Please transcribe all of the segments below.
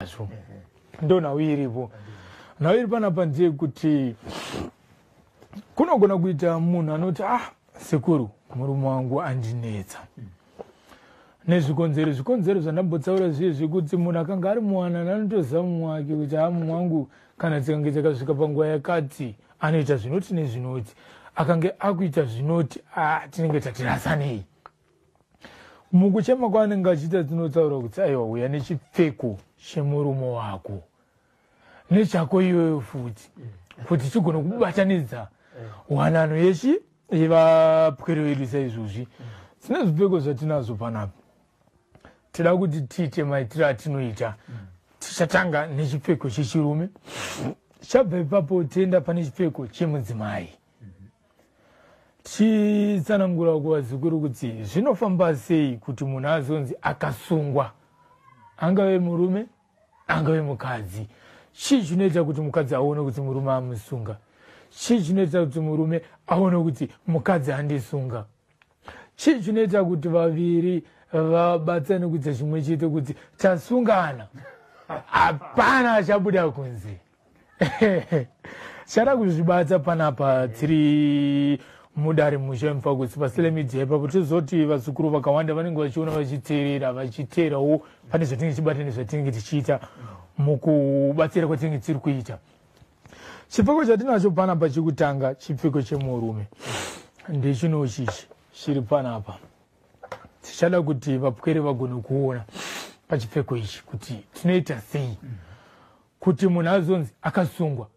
nazvo ndo nhau iripo nhau iri panapa ndeyekuti kunogona kuita munhu anoti ah sekuru murume wangu andinetsa nezvikonzero zvikonzero zvandambotsaura zviye zvekuti munhu akanga ari muwanana anotoziva mumwe wake kuti ha ah, mumwe wangu kana dzikange dzakasvika panguva yakati anoita zvinoti nezvinoti akange akuita zvinoti a ah, tinenge tatirasanei mukuchema kwaanenge achiita dzinotaura kuti aiwa huya nechipfeko chemurume wako nechako iyoyo futi kuti chigona kubatanidza wanano yechi yevapwere vedu saizvozvi tine zvipfeko zvatinazvo panapa tida kuti tiite maitiro atinoita tichatanga nechipfeko chechirume chabva ipapo tienda pane chipfeko chemudzimai chitsanangura kuvazukuru kuti zvinofamba sei kuti munhu azonzi akasungwa angave murume angave mukadzi chii chinoita kuti mukadzi aone kuti murume amusunga chii chinoita kuti murume aone kuti mukadzi andisunga chii chinoita kuti vaviri vabatsane kuita chimwe chete kuti tasungana hapana achabuda kunze chada kuzvibata panapa tiri mudare musha mfakusi pasile media ipapo tizoti vazukuru vakawanda vanenge vachiona vachiteerera vachiteerawo pane zvatinenge tichibata nezvatinenge tichiita mukubatsira kwatinenge tiri kuita chipfeko chatinacho panapa chekutanga chipfeko chemurume ndechino chichi chiri panapa tichada kuti vapwere vagone kuona pachipfeko ichi kuti tinoita sei mm -hmm. kuti munhu azonzi akasungwa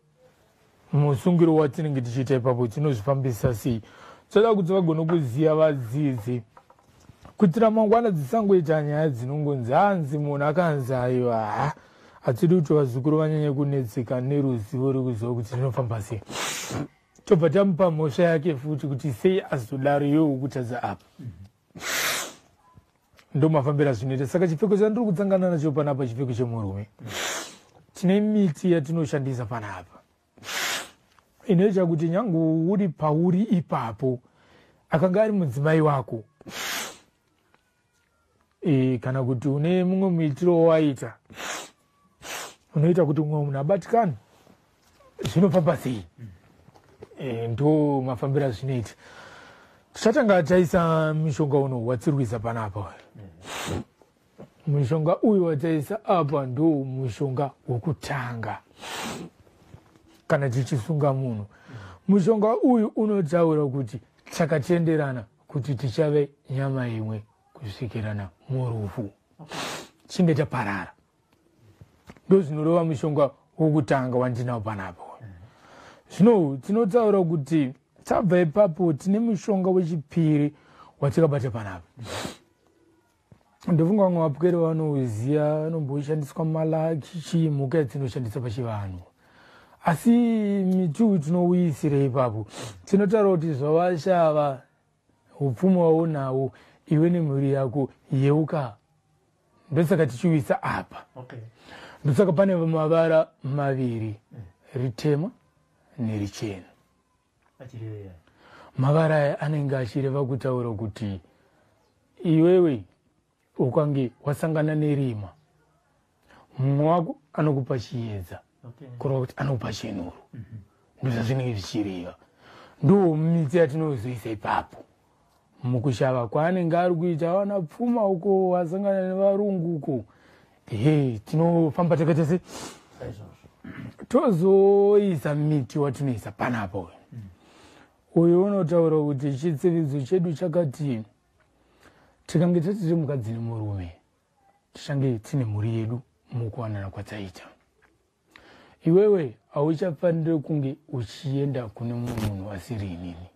musungiro watinenge tichiita ipapo tinozvifambisa sei toda kuti vagone kuziva vadzidzi kuti ramangwana dzisangoita nyaya dzinongonzi hanzi munhu akanzi aiwa ha hatidi kuti vazukuru vanyanye kunetseka neruzivo rekuziva kuti rinofamba sei tobva tamupa mhosva yake futi kuti sei azodaro yowo kutadza apa mm -hmm. ndomafambira zvinoita saka chipfeko chandiri kudzangana nacho panapa chipfeko chemurume tine miti yatinoshandisa panapa inoita kuti nyange uri pauri ipapo akanga ari mudzimai wako e, kana kuti une mumwe muitiro wawaita unoita kuti umwe munhu abatikane zvinobva pasei eh, ndo mafambiro azvinoita tichatanga taisa mishonga uno watsirwiza panapa mushonga uyu wataisa apa ndo mushonga wokutanga kana tichisunga munhu mushonga uyu unotaura kuti takatenderana kuti tichave nyama imwe kusvikira na murufu chinge chaparara ndozvinorova mushonga wokutanga wandinawo panapa zvino tinotaura kuti tabva ipapo tine mushonga wechipiri watikabata panapa ndofunga vamwe vapwere vanouziva vanomboshandiswa malaki chii mhuka yadzinoshandisa pachivanhu asi mituu tinouyisire ipapo tinotaura kuti zvavashava upfumi waunawo iwe nemhuri yako yeuka ndosaka tichiuyisa apa okay. ndosaka pane mavara maviri mm. ritema nerichena mavara aya anenge achireva kutaura kuti iwewe ukange wasangana nerima mumwe wako anokupa chiyedza okay. kureva kuti anokupa chenuru mm -hmm. ndozvazvinenge zvichireva ndo midzi yatinozoisa ipapo mukushava kwaanenge ari kuita awana pfuma uko wasangana nevarungu uko he tinofamba takaita se tozoisa miti watinoisa panapa uyu uyu unotaura kuti chitsividzo chedu chakati tikange tatiri mukadzi nemurume tichange tine mhuri yedu mukuwanana kwatsaita iwewe hauchafanire kunge uchienda kune mumwe munhu asiri inini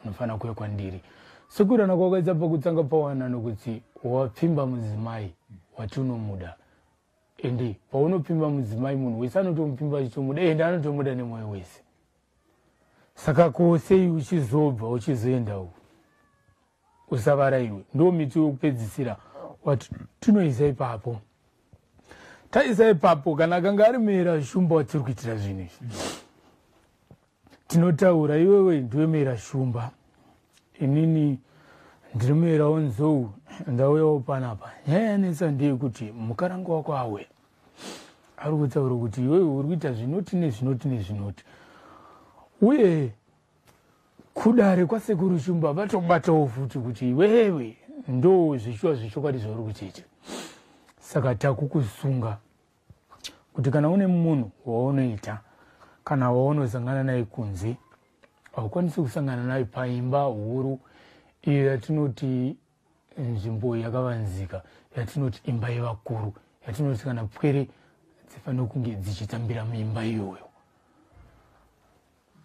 unofanira kuve kwandiri sekurana kwakaita pakutanga pawanano kuti wapfimba mudzimai wati unomuda ende paunopfimba mudzimai munhu wese anotomupfimba achitomuda ende anotomuda nemwoyo wese saka ko sei uchizobva uchizoenda uku usavara iwe ndo miti wekupedzisira wati tinoisa ipapo taisa ipapo kana akanga ari mera shumba watiri kuitira zvinhu izvi tinotaura iwewe ndiwe mera shumba inini ndiri mera onzou ndauyawo panapa nyaya yanetsa ndeyekuti mukaranga wako awe ari kutaura kuti iwewe uri kuita zvinoti nezvinoti nezvinoti uye kudare kwasekuru shumba vatobatawo futi kuti iwewe ndo zvichiwa zvechokwadi zvauri kuchiita saka takukusunga kuti kana une munhu waunoita kana waunozangana naye kunze haukwanisi kusangana naye paimba huru iyo yatinoti nzvimbo yakavanzika yatinoti imba yevakuru yatinoti kana pwere dzifanira kunge dzichitambira muimba iyoyo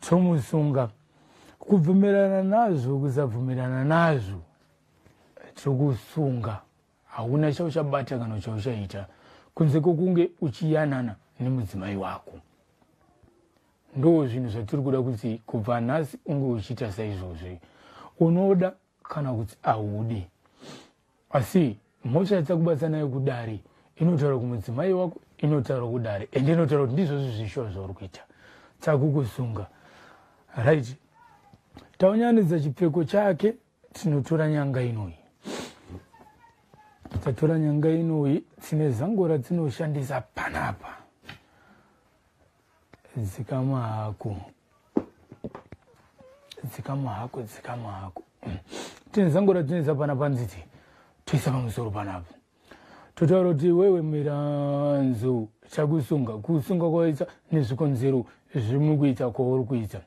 tomusunga kubvumirana nazvo kusabvumirana nazvo tokusunga hauna chauchabata kana chauchaita kunze kwokunge uchiyanana nemudzimai wako ndo zvinhu zvatiri kuda kuti kubva nhasi unge uchiita saizvozvi unoda kana kuti ahudi asi mhosva yatakubatsa nayo kudare inotaura kumudzimai wako inotaura kudare and inotaura kuti ndizvo zvizvishuwa zvauri kuita takukusunga right taunyanidza chipfeko chake tinotora nyanga inoyi tatora nyanga inoyi tine zango ratinoshandisa panapa dzikama hako dzikama hako dzikama hako tine zango ratinetsa pana panziti toisa pamusoro panapa totaura kuti wewe miranzo chakusunga kusunga kwawaita nezvikonzero zvimwe kuita kwauri kuita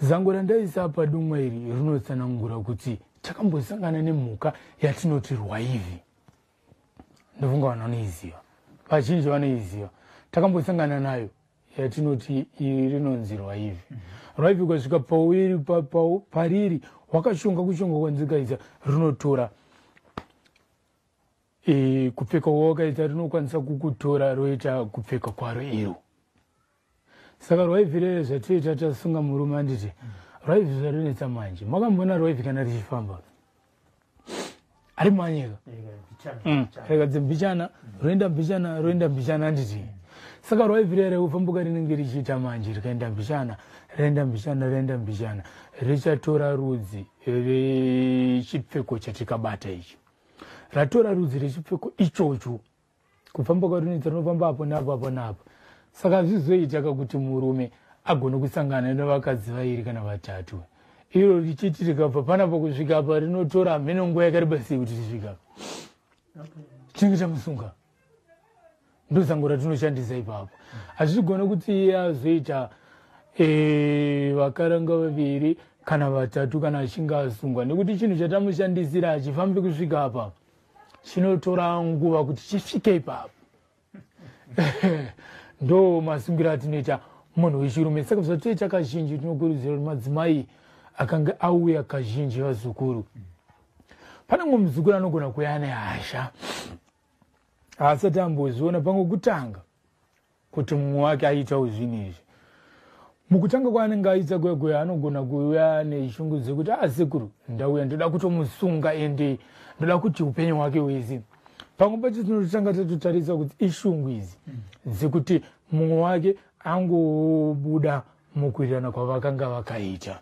zango randaisa apa dumwa iri rinotsanangura kuti takambosangana nemhuka yatinoti rwaivi ndofunga vanhu vanoiziva vazhinji vanoiziva takambosangana nayo yatinoti iri rinonzi rwaivi mhm. rwaivi ukasvika pauri pariri wakashonga kushonga kwanzikaisa rinotora e, kupfeka wawakaisa rinokwanisa kukutora roita kupfeka kwaro iro saka rwaivi rere zvatiita tasunga murume anditi rwaivi zvarinetsa manje makambona rwaivi kana richifamba ari manyika mm. rega dzimbichana roenda mbichana roenda mbichana anditi saka rwaivi rere ufambuka rinenge richiita manje rikaenda mbichana renda mbichana renda mbichana richatora rudzi rechipfeko chatikabata icho ratora rudzi rechipfeko ichocho kufamba kwarinoita rinofamba apo napo apo napo saka zvizoitaka kuti murume agone kusangana nevakadzi vairi kana vatatu iro richiti rikabva panapa kusvika apa rinotora hameno nguva yakareba sei kuti risvika chinenge chamusunga ndozango ratinoshandisa ipapo hazvigone kuti iye azoita eh, vakaranga vaviri kana vatatu kana achinge asungwa nekuti chinhu chatamushandisira hachifambi kusvika apa chinotora nguva kuti chisvike ipapo ndo masungiro atinoita munhu wechirume saka zvatoita kazhinji tinokurudzira kuti madzimai akange auya kazhinji vazukuru pane mumwe muzukuru anogona kuya nehasha haasati amboziona pangokutanga kuti mumwe wake aitawo zvinhu izvi mukutanga kwaanenge aita kwekwe anogona kuuya neshungu dzekuti a ah, sekuru ndauya ndoda kutomusunga ende ndoda kuti upenyu hwake wese pamwe pacho tinototanga tatotarisa kuti ishungu idzi dzekuti mumwe wake angobuda mukuirana kwavakanga vakaita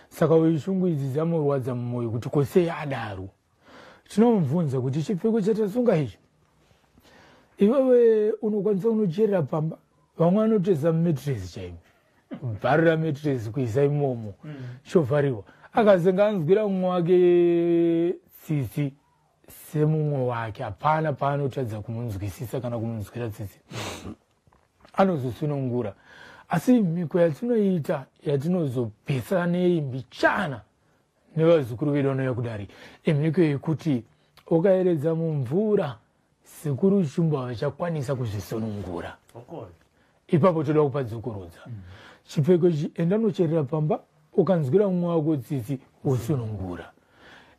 saka ishungu idzi dzamurwadza mumwoyo kuti kosei adaro tinomubvunza kuti chipfeko chatasunga ichi iwewe unokwanisa unocherera pamba vamwe vanoteza mumetresi chaimo bvarira metresi kuisa imomo mm. chovhariwa akazenga anzwira mumwe wake tsitsi semumwe wake hapana paanotadza kumunzwisisa kana kumunzwira tsitsi anozosunungura asi mhiko yatinoita yatinozobetsera nei mbichana nevazukuru vedu vanouya kudare imhiko yekuti ukayeredza mumvura sekuru shumba vachakwanisa kuzvisunungura ipapo toda kupa dzokorudza mm. chipfeko ichi enda unocherera pamba ukanzwira mumwe wako tsitsi wosunungura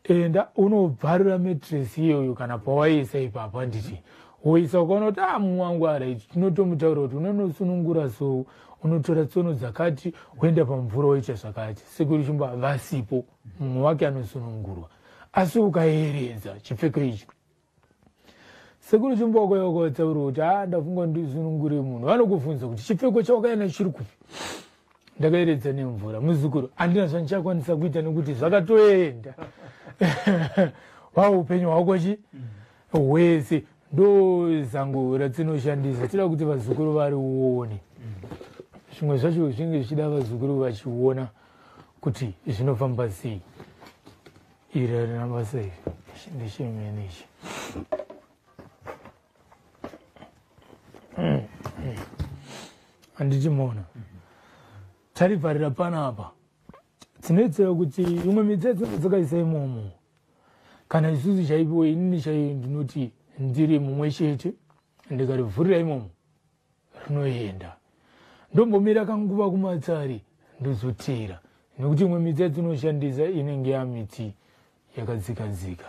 enda unobvarura metresi iyoyo kana pawaiisa ipapo handiti woisa ukaona kuti a ah, mumwe wangu arit tinotomutaura kuti unonosunungura sou unotora tsono dzakati woenda pamvura woita zvakati sekuru chimbo havasipo mumwe wake anosunungurwa asi ukaeredza chipfeko ichi sekuru chimbo wakoya wakawatsaura kuti a ah, ndafunga ndisunungure munhu vanokubvunza kuti chipfeko chawakaenda chiri kupi ndakaeredza nemvura muzukuru handina zvandichakwanisa kuita nekuti zvakatoenda wa upenyu hwako chi mm. wese ndoo zango ratinoshandisa tida kuti vazukuru varione zvimwe zvacho zvinenge zvichida vazukuru vachiona kuti zvinofamba sei iri arina basa iri ndechemene ichi handiti mona tarivharira panapa tinoitira kuti imwe mitsetse dzakaisa imomo kana isusu chaipiwo inini chaiyo ndinoti ndiri mumwe chete ndikarivhurira imomo rinoenda ndombomira kanguva kumatsari ndozoteera nekuti imwe miti yatinoshandisa inenge yamiti yakadzikadzika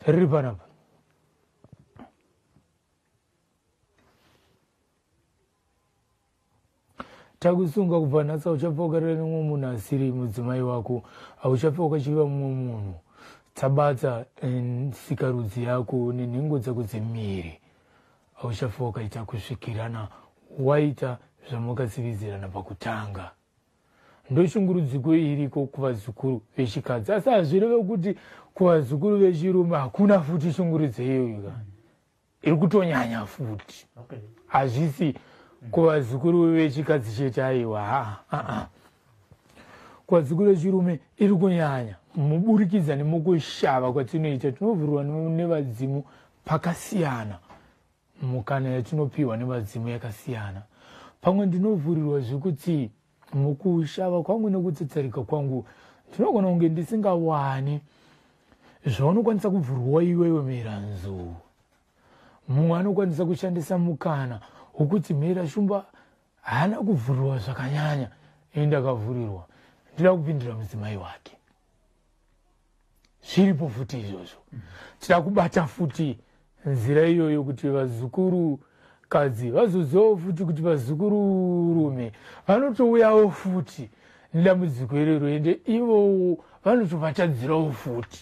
riri panapa takusunga kubva nhasi hauchafa ukarira nemumwe munhu asiri mudzimai wako hauchafa ukachiva mumwe munhu tsabatsa sikarudzi yako nenhengo dzako dzemiri hauchafa ukaita kusvikirana waita zvamakatsividzirana pakutanga ndoshungurudziko iriko kuvazukuru vechikadzi asi hazvireve kuti kuvazukuru vechirume hakuna futi shungurudzo iyoyo kani iri kutonyanya futi hazvisi okay. kuvazukuru vechikadzi chete aiwa haa haa kuvazukuru vechirume iri kunyanya muburikidza nemukushava kwatinoita tinovhurwa nevadzimu pakasiyana mukana yatinopiwa nevadzimu yakasiyana pamwe ndinovhurirwa zvekuti Mukushava kwangu nekutsetsarika kwangu ndinogona kunge ndisingawani zvaunokwanisa kubvurwa iwewe mera nzou mumwe anokwanisa kushandisa mukana wokuti mera shumba haana kuvhurirwa zvakanyanya ini ndakavhurirwa ndida kupindira mudzimai wake zviripo futi izvozvo tira kubata futi nzira iyoyo kuti vazukuru kadzi vazozivawo futi kuti vazukuru rume vanotouyawo futi nedambudziko irero ende ivowo vanotovatadzirawo futi